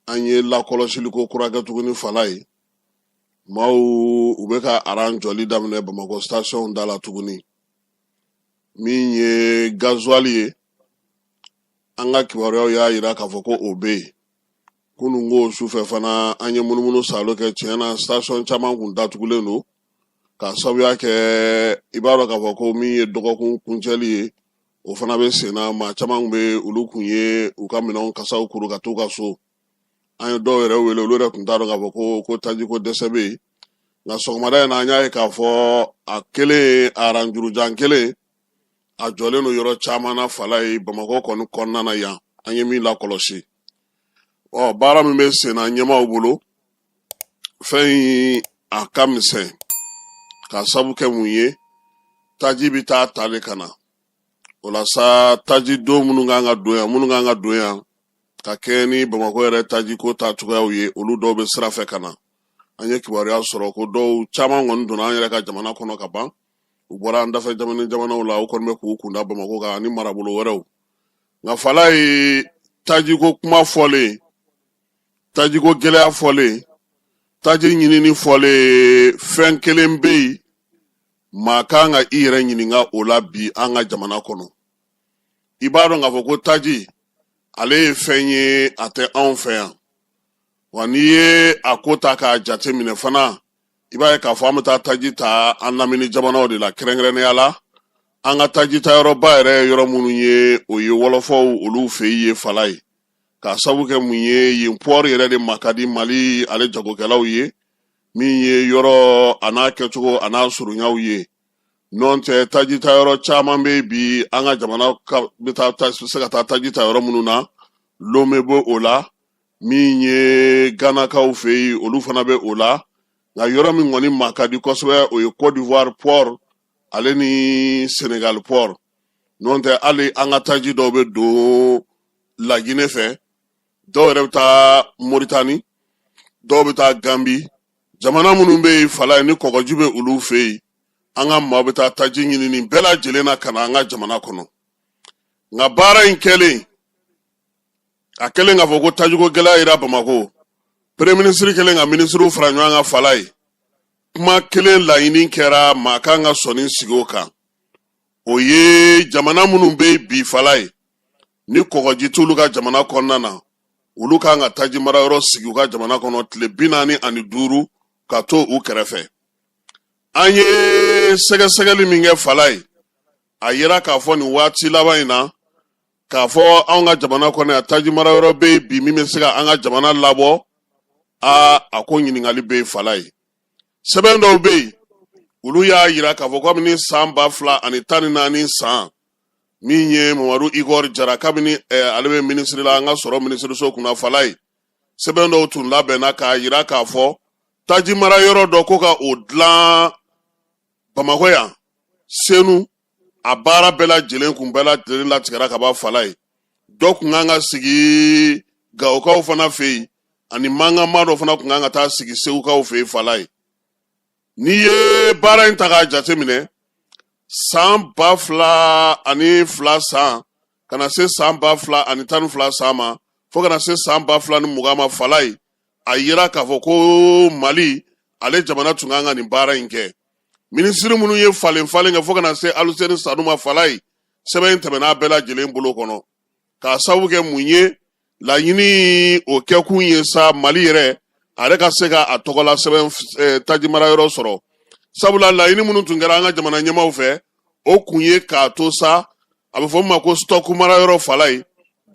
an ye lakɔlɔsiliko kura kɛ tuguni falaye maaw u bɛ ka aran jɔli daminɛ bamakɔ station da la tuguni min ye gazuwal ye an ka kibaruyaw y'a yira k'a fɔ ko o bɛ yen kunun ko sufɛ fana an ye munumunu salo kɛ tiɲɛ na station caman kun datugulen don k'a sabuya kɛ i b'a dɔn k'a fɔ ko min ye dɔgɔkun kuncɛli ye o fana bɛ senna maa caman bɛ olu kun ye u ka minɛnw kasaw kuru ka t'u ka so an ye dɔw yɛrɛ wele olu yɛrɛ tun t'a dɔn k'a fɔ ko tajiko dɛsɛ bɛ yen nka sɔgɔmada in na an y'a ye k'a fɔ a kɛlen a aranjurujan kɛlen a jɔlen don yɔrɔ caman na falaye bamakɔ kɔni kɔnɔna na yan an ye min lakɔlɔsi ɔ baara min bɛ senna ɲɛmaaw bolo fɛn in a ka misɛn k'a sabu kɛ mun ye taji bɛ taa ta de ka na o la sa taji don minnu kan ka don yan ka kɛɲɛ ni bamakɔ yɛrɛ taji ko ta cogoyaw ye olu dɔw bɛ sira fɛ ka na an ye kibaruya sɔrɔ ko dɔw caman kɔni donna an yɛrɛ ka jamana kɔnɔ ka ban u bɔra an dafɛ jamana jamanaw la u kɔni bɛ k'u kun da bamakɔ kan ani marabolo wɛrɛw nka falaye tajiko kuma fɔlen tajiko gɛlɛya fɔlen taji ɲinini fɔlen fɛn kelen bɛ yen maa kan ka i yɛrɛ ɲininka o la bi an ka jamana kɔnɔ i b'a dɔn k'a fɔ ko taji ale ye fɛn ye a tɛ anw fɛ yan wa n'i ye a ko ta k'a jateminɛ fana i b'a ye k'a fɔ an bɛ taa taji ta an lamini jamanaw de la kɛrɛnkɛrɛnnenya la an ka taji ta yɔrɔba yɛrɛ yɔrɔ minnu ye o ye wɔlɔfɔw olu fɛ yen falaye k'a sabu kɛ mun ye yen pɔri yɛrɛ de ma ka di mali ale jagokɛlaw ye min ye yɔrɔ an'a kɛcogo an'a surunyaw ye nɔntɛ tajita yɔrɔ caman bɛ yen bi an ka jamana bɛ se ka taa taji ta yɔrɔ minnu na lome bɛ o la min ye ganakaw fɛ yen olu fana bɛ o la nka yɔrɔ min kɔni ma ka di kosɛbɛ o ye kɔdiwari pɔri ale ni senegali pɔri nɔntɛ hali an ka taji dɔw bɛ don lajinɛ fɛ dɔw yɛrɛ bɛ taa moritani dɔw bɛ taa ganbi jamana minnu bɛ yen falaye ni kɔgɔji bɛ olu fɛ yen an ka maa bɛ taa taji ɲini nin bɛɛ lajɛlen na ka na an ka jamana kɔnɔ nka baara in kɛlen a kɛlen k'a fɔ ko tajiko gɛlɛya yera bamakɔ peremiye minisiri kɛlen ka minisiriw fara ɲɔgɔn kan falaye kuma kelen laɲini kɛra maa kan ka sɔnni sigi o kan o ye jamana minnu bɛ yen bi falaye ni kɔgɔji t'olu ka jamana kɔnɔna na olu kan ka taji mara yɔrɔ sigi u ka jamana kɔnɔ tile bi naani ani duuru ka to u kɛrɛfɛ an ye sɛgɛsɛgɛli min kɛ fala ye a yira k'a fɔ nin waati laban in na k'a fɔ anw ka jamana kɔnɔ yan taji mara yɔrɔ bɛ yen bi min bɛ se ka an ka jamana labɔ aa a ko ɲininkali bɛ yen fala ye sɛbɛn dɔw bɛ yen olu y'a yira k'a fɔ kabini san ba fila ani tan ni naani san min ye mamadu igɔri jara kabini ale bɛ minisiri la an ka sɔrɔ minisiriso kunna fala ye sɛbɛn dɔw tun labɛnna k'a yira k'a fɔ taji mara yɔrɔ dɔ ko ka o dilan bamakɔ yan senu a baara bɛɛ lajɛlen kun bɛɛ lajɛlen latigɛra kaban fala ye dɔ kun kan ka sigi gawokaw fana fɛ yen ani mankanma dɔ fana kun kan ka taa sigi segukaw fɛ yen fala ye N'i ye baara in ta k'a jate minɛ san ba fila ani fila san ka na se san ba fila ani tan ni fila san ma fo ka na se san ba fila ni mugan ma fala ye a yira k'a fɔ ko mali ale jamana tun kan ka nin baara in kɛ minisiri minnu ye falen falen kɛ fo ka na se aluseni sanu ma fala ye sɛbɛn in tɛmɛn'a bɛɛ lajɛlen bolo kɔnɔ k'a sabu kɛ mun ye laɲini o kɛkun ye sa mali yɛrɛ a yɛrɛ ka se ka a tɔgɔla sɛbɛn eh, tajimara yɔrɔ sɔrɔ sabula laɲini minnu tun kɛra an ka jamana ɲɛmaaw fɛ o kun ye k'a to sa a bɛ fɔ min ma ko stock mara yɔrɔ fala ye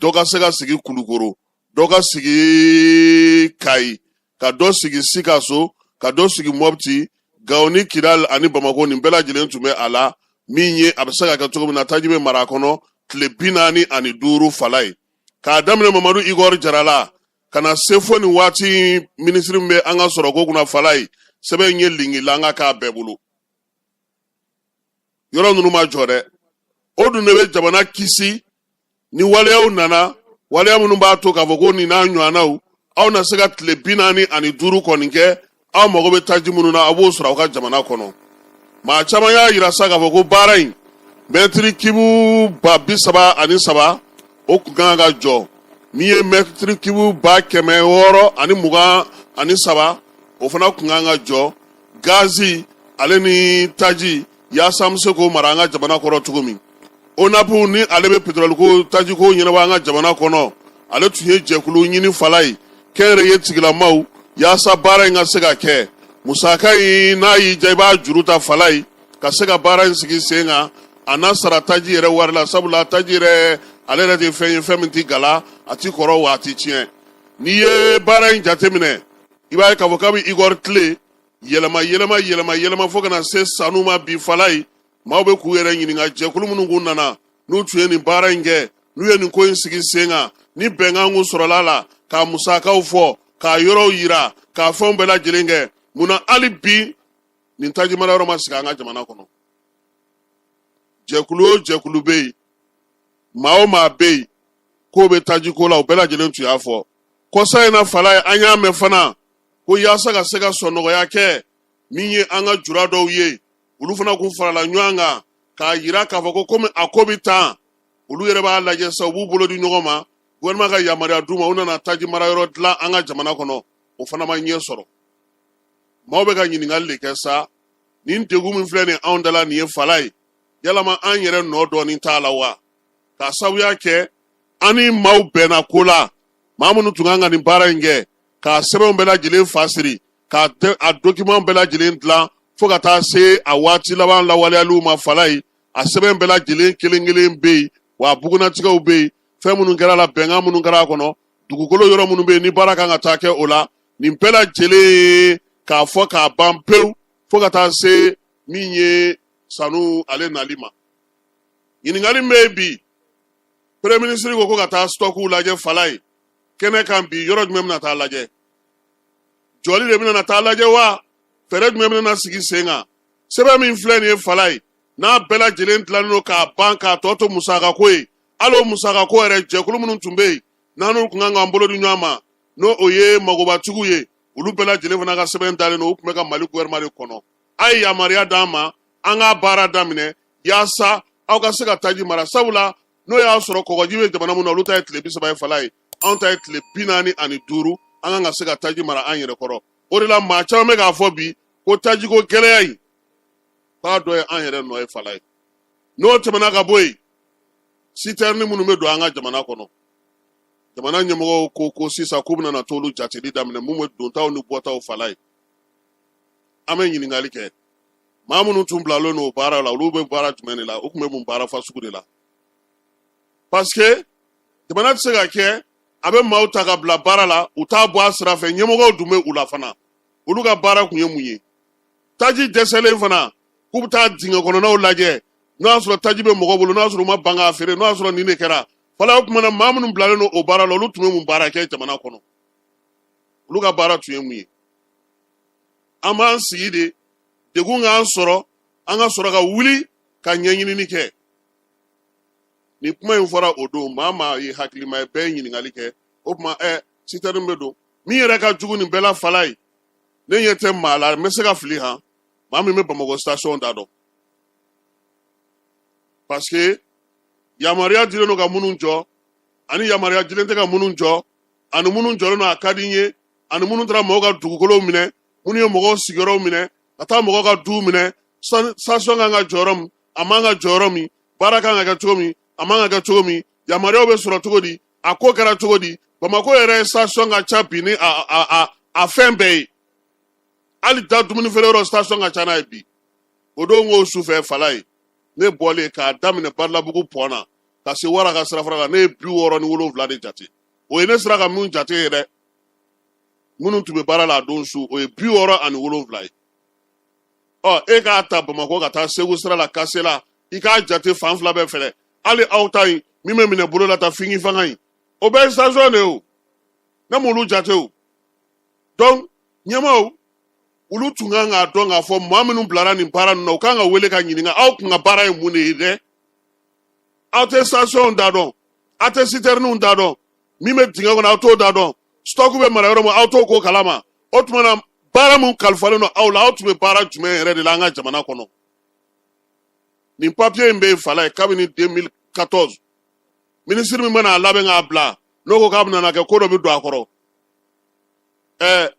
dɔ ka se ka sigi kulukoro dɔ ka sigi kayi ka dɔ sigi sikaso ka dɔ sigi mɔpti gawo ni kidal ani bamako nin bɛɛ lajɛlen tun bɛ a la min ye a bɛ se ka kɛ cogo min na taji bɛ mara a kɔnɔ tile bi naani ani duuru fala ye k'a daminɛ mamadu igor jara la ka na se fo nin waati in minisiri min bɛ an ka sɔrɔ ko kunna fala ye sɛbɛn in ye linkilanka k'a bɛɛ bolo yɔrɔ ninnu ma jɔ dɛ o dun de bɛ jamana kisi ni waleyaw nana waleya minnu b'a to k'a fɔ ko nin n'a ɲɔgɔnnaw aw na se ka tile bi naani ani duuru kɔni kɛ aw mago bɛ taji minnu na a b'o sɔrɔ aw ka jamana kɔnɔ maa caman y'a yira sa k'a fɔ ko baara in mɛtiri kibu ba bi saba ani saba o kun kan ka jɔ min ye mɛtiri kibu ba kɛmɛ wɔɔrɔ ani mugan ani saba o fana kun kan ka jɔ gazi ale ni taji yaasa an bɛ se k'o mara an ka jamana kɔrɔ cogo min onapu ni ale bɛ petroliko tajiko ɲɛnabɔ an ka jamana kɔnɔ ale tun ye jɛkulu ɲini fala ye kɛnyɛrɛye tigilamaw yaasa baara in ka se ka kɛ musaka in n'a y'i ja i b'a juru ta fala ye ka se ka baara in sigi sen kan a n'a sara taji yɛrɛ wari la sabula taji yɛrɛ ale yɛrɛ de ye fɛn ye fɛn min ti gala a ti kɔrɔ wa a ti tiɲɛ n'i ye baara in jateminɛ i b'a ye k'a fɔ kabi igɔri tile yɛlɛma yɛlɛma yɛlɛma yɛlɛma fo ka na se sanu ma bi falaye maaw bɛ k'u yɛrɛ ɲininka jɛkulu minnu kun nana n'u tun ye nin baara in kɛ n'u ye nin ko in sigi sen kan ni bɛnkan kun sɔrɔla a la k'a musakaw fɔ k'a yɔrɔw yira k'a fɛnw bɛɛ lajɛlen kɛ mun na hali bi nin tajimara yɔrɔ ma sigi an ka jamana kɔnɔ jɛkulu o jɛkulu bɛ yen maa o maa bɛ yen k'o bɛ tajiko la o bɛɛ lajɛlen tun y'a fɔ kɔsa in na falaye an y'a mɛn fana ko yaasa ka se ka sɔnɔgɔya kɛ min ye an ka jura dɔw ye olu fana kun farala ɲɔgɔn kan k'a yira k'a fɔ ko komi a ko bɛ tan olu yɛrɛ b'a lajɛ sa u b'u bolo di ɲɔgɔn ma gouvernement ka yamaruya d'u ma u nana taji mara yɔrɔ dilan an ka jamana kɔnɔ o fana ma ɲɛ sɔrɔ maaw bɛ ka ɲininkali de kɛ sa nin degun min filɛ nin anw da la nin ye falaye yalama an yɛrɛ nɔ dɔɔnin t'a la wa k'a sabuya kɛ an ni maaw bɛnna ko la maa minnu tun kan ka nin baara in kɛ k'a sɛbɛnw bɛɛ lajɛlen fa siri k'a a dokiman bɛɛ lajɛlen dilan fo ka taa se a waati laban lawaleyaliw ma falaye a sɛbɛn bɛɛ lajɛlen kelen kelen bɛ yen wa a bugunnatigɛw bɛ yen fɛn minnu kɛra a la bɛnkan minnu kɛra a kɔnɔ dugukolo yɔrɔ minnu bɛ yen ni baara kan ka taa kɛ o la nin bɛɛ lajɛlen ye k'a fɔ k'a ban pewu fo ka taa se min ye sanu ale nali ma ɲininkali min bɛ yen bi premier ministre ko ko ka taa sitɔkiw lajɛ falaye kɛnɛ kan bi yɔrɔ jumɛn bɛna taa lajɛ jɔli de bɛna taa lajɛ wa fɛɛrɛ jumɛn bɛna sigi sen kan sɛbɛn min filɛ nin ye falaye n'a bɛɛ lajɛlen dilannen don k'a ban k'a tɔ to musakako ye hali o musakako yɛrɛ jɛkulu minnu tun bɛ yen n'anw kun kan k'an bolo di ɲɔgɔn ma n'o o ye magobatigiw ye olu bɛɛ lajɛlen fana ka sɛbɛn dalen don u tun bɛ ka mali gouvernement de kɔnɔ a ye yamaruya d'an ma an k'a baara daminɛ yaasa aw ka se ka taji mara sabula n'o y'a sɔrɔ kɔgɔji bɛ jamana min na olu ta ye tile bi saba ye falaye anw ta ye tile bi naani ani duuru an kan ka se ka taji mara an yɛrɛ kɔrɔ o de la maa caman bɛ k'a fɔ bi ko tajiko gɛlɛya in k'a dɔ ye an yɛrɛ nɔ ye falaye n'o tɛmɛna ka bɔ yen sitɛrini minnu bɛ don an ka jamana kɔnɔ jamana ɲɛmɔgɔw ko ko sisan k'u bɛna t'olu jateli daminɛ min bɛ dontaw ni bɔtaw falaye an bɛ ɲininkali kɛ maa minnu tun bilalen don o baara la olu bɛ baara jumɛn de la u tun bɛ mun baara fasugu de la parce que jamana tɛ se ka kɛ a bɛ maaw ta ka bila baara la u t'a bɔ a sira fɛ ɲɛmɔgɔw dun bɛ u la fana olu ka baara kun ye mun ye taji dɛsɛlen fana k'u bɛ taa dingɛ kɔnɔnaw lajɛ n'o y'a sɔrɔ taji bɛ mɔgɔ bolo n'o y'a sɔrɔ u ma ban k'a feere n'o y'a sɔrɔ nin de kɛra falaye o tuma na maa minnu bilalen don o baara la olu tun bɛ mun baara kɛ jamana kɔnɔ olu ka baara tun ye mun ye an b'an sigi de degun k'an sɔrɔ an ka sɔrɔ ka wuli ka ɲɛɲinini kɛ ni kuma in fɔra o don maa maa ye hakilima ye bɛɛ ye ɲininkali kɛ o tuma ɛ sitɛrini bɛ don min yɛrɛ ka jugu nin bɛɛ la falaye ne ɲɛ tɛ maa la n bɛ se ka fili han maa min bɛ bamakɔ station da dɔn parce que yamaruya dilen don ka minnu jɔ ani yamaruya dilen tɛ ka minnu jɔ ani minnu jɔlen don a ka di n ye ani minnu taara mɔgɔw ka dugukolow minɛ minnu ye mɔgɔw sigiyɔrɔw minɛ ka taa mɔgɔw ka duw minɛ station kan ka jɔ yɔrɔ min a man ka jɔ yɔrɔ min baara kan ka kɛ cogo min a man ka kɛ cogo min yamaruyaw bɛ sɔrɔ cogo di a ko kɛra cogo di bamakɔ yɛrɛ station ka ca bi ni a a a a fɛn bɛɛ ye hali da dumuni feere yɔrɔ station ka ca n'a ye bi o don ko sufɛ falaye ne bɔlen k'a daminɛ badalabugu pɔn na ka se wara ka sirafara la ne ye bi wɔɔrɔ ni wolonwula de jate o ye ne sera ka minnu jate ye dɛ minnu tun bɛ baara la a don su o ye bi wɔɔrɔ ani wolonwula ye ɔ e k'a ta bamakɔ ka taa segu sira la kasela i k'a jate fan fila bɛɛ fɛlɛ hali aw ta in min bɛ minɛ bolo la ta fingi fanga in o bɛɛ ye station de ye o ne m'olu jate o donc ɲɛmaaw olu tun kan k'a dɔn k'a fɔ maa minnu bilara nin baara ninnu na u kan ka wele ka ɲininka aw kun ka baara ye mun de ye dɛ aw tɛ stationw da dɔn aw tɛ sitɛriniw da dɔn min bɛ dingɛ kɔnɔ aw t'o da dɔn stock bɛ mara yɔrɔ min aw t'o ko kalama o tuma na baara min kalifalen don aw la aw tun bɛ baara jumɛn yɛrɛ de la an ka jamana kɔnɔ nin papiye in bɛ yen falaye kabini 2014 minisiri min mana a labɛn k'a bila n'o ko k'a bɛna na kɛ ko dɔ bɛ don a kɔrɔ ɛɛ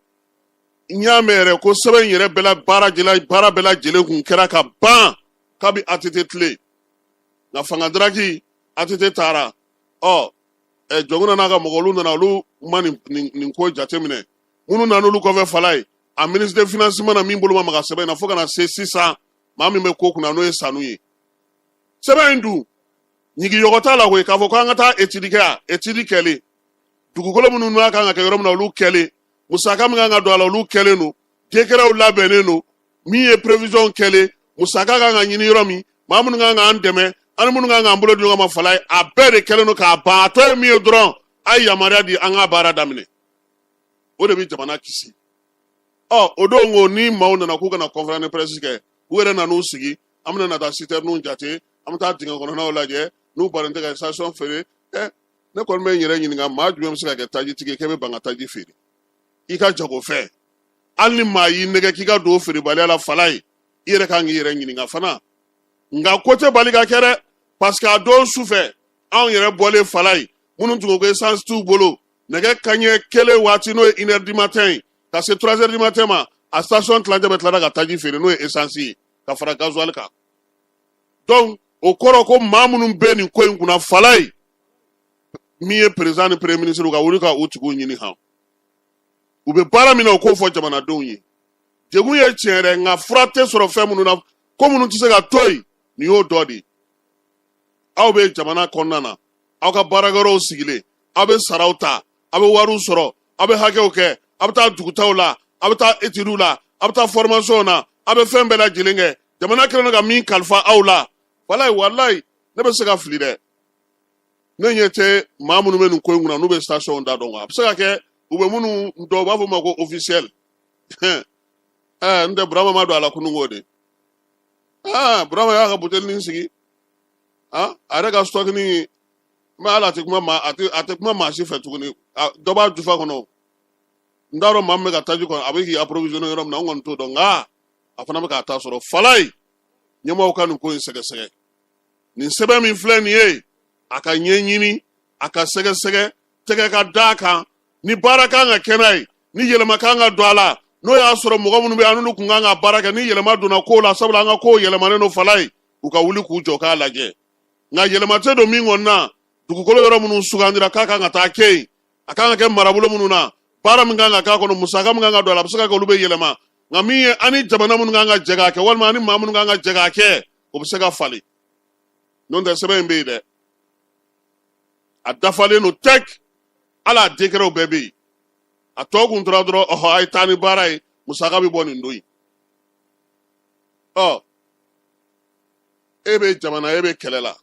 n y'a mɛn yɛrɛ ko sɛbɛn in yɛrɛ bɛɛ la baara jɛla baara bɛɛ lajɛlen kun kɛra ka ban kabi atete tile nka fanga daraki atete taara ɔ ɛ jɔnkunda n'a ka mɔgɔ olu nana olu ma nin nin nin ko jateminɛ minnu nana olu kɔfɛ falaye a ministre de finance ma na min bolo ma maga sɛbɛn in na fo ka na se sisan maa min bɛ ko kunna n'o ye sanu ye sɛbɛn in dun ɲigiyɔgɔ t'a la koyi k'a fɔ ko an ka taa etidi kɛ a etidi kɛlen dugukolo minnu n'a kan ka kɛ yɔrɔ min na olu kɛlen musaka min kan ka don a la olu kɛlen don dekɛrɛw labɛnnen don min ye prevision kɛlen musaka kan ka ɲini yɔrɔ min maa minnu kan k'an dɛmɛ ani minnu kan k'an bolo di ɲɔgɔn ma falaye a bɛɛ de kɛlen don k'a ban a tɔ ye min ye dɔrɔn a ye yamaruya di an ka baara daminɛ o de bɛ jamana kisi ɔ o don ko ni maaw nana k'u ka na conférence de presse kɛ u yɛrɛ nan'u sigi an bɛna na taa sitɛriniw jate an bɛ taa dingɛ kɔnɔnaw lajɛ n'u bannen tɛ ka station feere ɛ ne kɔni bɛ n yɛrɛ ɲininka maa jumɛn bɛ se ka kɛ tajitigi ye k'e bɛ ban ka taji feere i ka jagofɛn hali ni maa y'i nɛgɛn k'i ka don feerebaliya la falaye i yɛrɛ kan k'i yɛrɛ ɲininka fana nka ko tɛ bali ka kɛ dɛ parce que a don su fɛ anw yɛrɛ bɔlen falaye minnu tun ko ko essence t'u bolo nɛgɛ kaɲɛ kelen waati n'o ye une heure du matin ye ka se trois heures du matin ma a station tilancɛ bɛɛ tilara ka taji feere n'o ye essence ye ka fara gasoil kan donc o kɔrɔ ko maa minnu bɛ nin ko in kunna falaye min ye président ni premier ministre ka wuli ka u tigiw ɲini han u bɛ baara min na u k'o fɔ jamanadenw ye degun ye tiɲɛ yɛrɛ nka fura tɛ sɔrɔ fɛn minnu na ko minnu tɛ se ka to yen nin y'o dɔ de ye aw bɛ jamana kɔnɔna na aw ka baarakɛyɔrɔw sigilen aw bɛ saraw ta aw bɛ wariw sɔrɔ aw bɛ hakɛw kɛ aw bɛ taa dugutaaw la aw bɛ taa etidiw la aw bɛ taa fɔrimasɔnw na aw bɛ fɛn bɛɛ lajɛlen kɛ jamana kɛlen don ka min kalifa aw la walayi walayi ne bɛ se ka fili dɛ ne ɲɛ tɛ maa minnu bɛ nin ko in kunna n'u bɛ station da dɔn a bɛ se ka kɛ u bɛ minnu dɔw b'a fɔ ma ko officiel ɛɛ eh, n tɛ burama ma don a la kunun ko de aa ah, burama y'a ka butelinin sigi aa ah, a yɛrɛ ka stocknin mais hali a tɛ kuma maa a tɛ a tɛ kuma maa si fɛ tuguni dɔ b'a jufa kɔnɔ n t'a dɔn maa min bɛ ka taji kɔnɔ a bɛ k'i approvisionner yɔrɔ min na n kɔni t'o dɔn nka a fana bɛ k'a ta sɔrɔ falaye ɲɛmaaw ka nin ko in sɛgɛsɛgɛ nin sɛbɛn min filɛ nin ye a ka ɲɛɲini a ka sɛgɛsɛgɛ tɛgɛ ka da a kan ni baara kan ka kɛ n'a ye ni yɛlɛma kan ka don a la n'o y'a sɔrɔ mɔgɔ minnu bɛ an n'olu kun kan ka baara kɛ ni yɛlɛma donna kow la sabula an ka kow yɛlɛmalen don falaye u ka wuli k'u jɔ k'a lajɛ nka yɛlɛma tɛ don min kɔni na dugukolo yɔrɔ minnu sugandira k'a kan ka taa kɛ yen a kan ka kɛ marabolo minnu na baara min kan ka k'a kɔnɔ musaka min kan ka don a la a bɛ se ka kɛ olu bɛ yɛlɛma nka min ye an ni jamana minnu kan ka jɛ k'a kɛ walima an ni maa minnu kan ka jɛ k'a kɛ o bɛ se ka falen n'o tɛ sɛbɛn in bɛ yen dɛ a dafalen don tɛk hali a décretw bɛɛ bɛ yen a tɔ kun tora dɔrɔn ɔhɔ a ye taa ni baara ye musaka bɛ bɔ nin don in ɔ e bɛ jamana e bɛ kɛlɛ la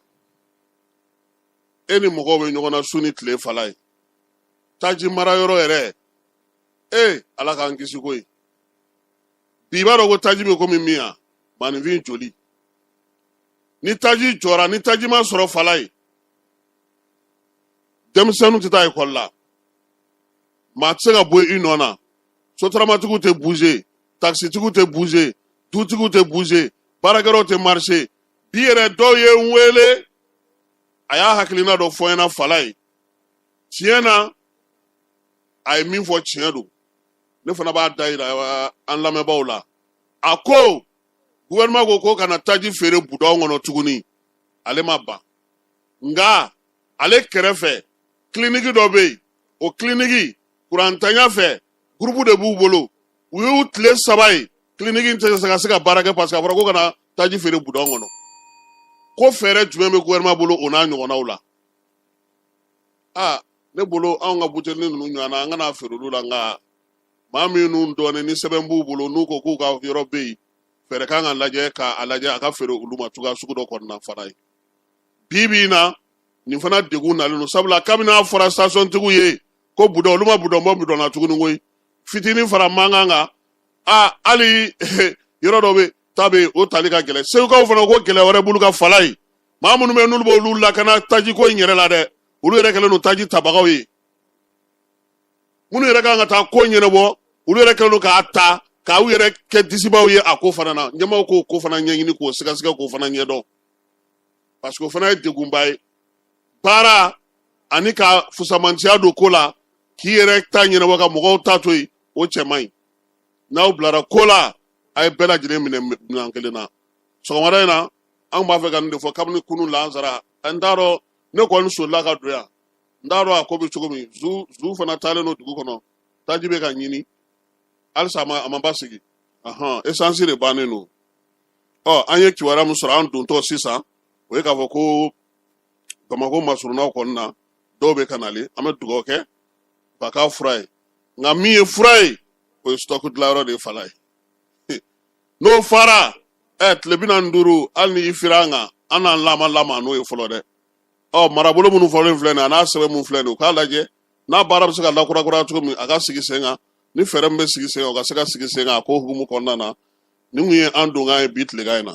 e ni mɔgɔw bɛ ɲɔgɔn na su ni tile falaye taji mara yɔrɔ yɛrɛ ee ala k'an kisi ko ye bi i b'a dɔn ko taji bɛ komi min yan maaninfin joli ni taji jɔra ni taji ma sɔrɔ falaye denmisɛnninw tɛ taa ekɔli la maa tɛ se ka bɔ i nɔ na sotaramatigiw tɛ buze takisitigiw tɛ buze dutigiw tɛ buze baarakɛyɔrɔw tɛ marise bi yɛrɛ dɔw ye n wele a y'a hakilina dɔ fɔ n ɲɛna falaye tiɲɛ na a ye min fɔ tiɲɛ don ne fana b'a da yira an lamɛnbaaw la a ko gouvernement ko ko kana taji feere budɔn kɔnɔ tuguni ale ma ban nka ale kɛrɛfɛ kiliniki dɔ bɛ yen o kiliniki kurantanya fɛ gurupu de b'u bolo u y'u tile saba ye kiliniki tɛ se ka se ka baara kɛ parce que a fɔra ko kana taji feere budɔn kɔnɔ ko fɛɛrɛ jumɛn bɛ gouvernement bolo o n'a ɲɔgɔnnaw la aa ne bolo anw ka butelinin ninnu ɲɔgɔnna an kana feere olu la nka maa minnu dɔnnen ni sɛbɛn b'u bolo n'u ko k'u ka yɔrɔ bɛ yen fɛɛrɛ kan ka lajɛ k'a lajɛ a ka feere olu ma cogoya sugu dɔ kɔnɔna falaye bi bi in na nin fana degun nalen don sabula kabini a fɔra station tigiw ye ko budɔn olu ma budɔn bɔ budɔn na tuguni koyi fitinin fara mankan kan a hali yɔrɔ dɔ bɛ ta bɛ yen o tali ka gɛlɛn segukaw fana ko gɛlɛya wɛrɛ b'olu kan falaye maa minnu bɛ n'olu b'olu lakana taji ko in yɛrɛ la dɛ olu yɛrɛ kɛlen don taji tabagaw ye minnu yɛrɛ kan ka taa ko ɲɛnabɔ olu yɛrɛ kɛlen don k'a ta k'aw yɛrɛ kɛ disibaw ye a ko fana na ɲɛmaaw k'o ko fana ɲɛɲini k'o sɛgɛsɛgɛ k'o fana ɲɛdɔn parce que o fana ye degunba ye baara ani ka fusamantiya don ko la k'i yɛrɛ ta ɲɛnabɔ ka mɔgɔw ta to yen o cɛ man ɲi n'aw bilara ko la a ye bɛɛ lajɛlen minɛ minɛn kelen na sɔgɔmada in na anw b'a fɛ ka nin de fɔ kabini kunun lansara n t'a dɔn ne kɔni solila ka don yan n t'a dɔn a ko bɛ cogo min zu zu fana taalen don dugu kɔnɔ taji bɛ ka ɲini halisa a ma a ma basigi ahan esansi de bannen don ɔ an ye kibaruya min sɔrɔ an dontɔ sisan o ye k'a fɔ ko bamakɔ masurunnaw kɔni na dɔw bɛ ka nale an bɛ dugawu kɛ ba k'a fura ye nka min ye fura ye o ye sitɔku dilanyɔrɔ de ye falaye n'o fara ɛ tile bi naani ni duuru hali ni i fira an kan an n'an lama lama n'o ye fɔlɔ dɛ ɔ marabolo minnu fɔlen filɛ nin ye a n'a sɛbɛn minnu filɛ nin ye u k'a lajɛ n'a baara bɛ se ka lakurakura cogo min a ka sigi sen kan ni fɛɛrɛ min bɛ sigi sen kan o ka se ka sigi sen kan a ko hukumu kɔnɔna na nin kun ye an donkan ye bi tilegan in na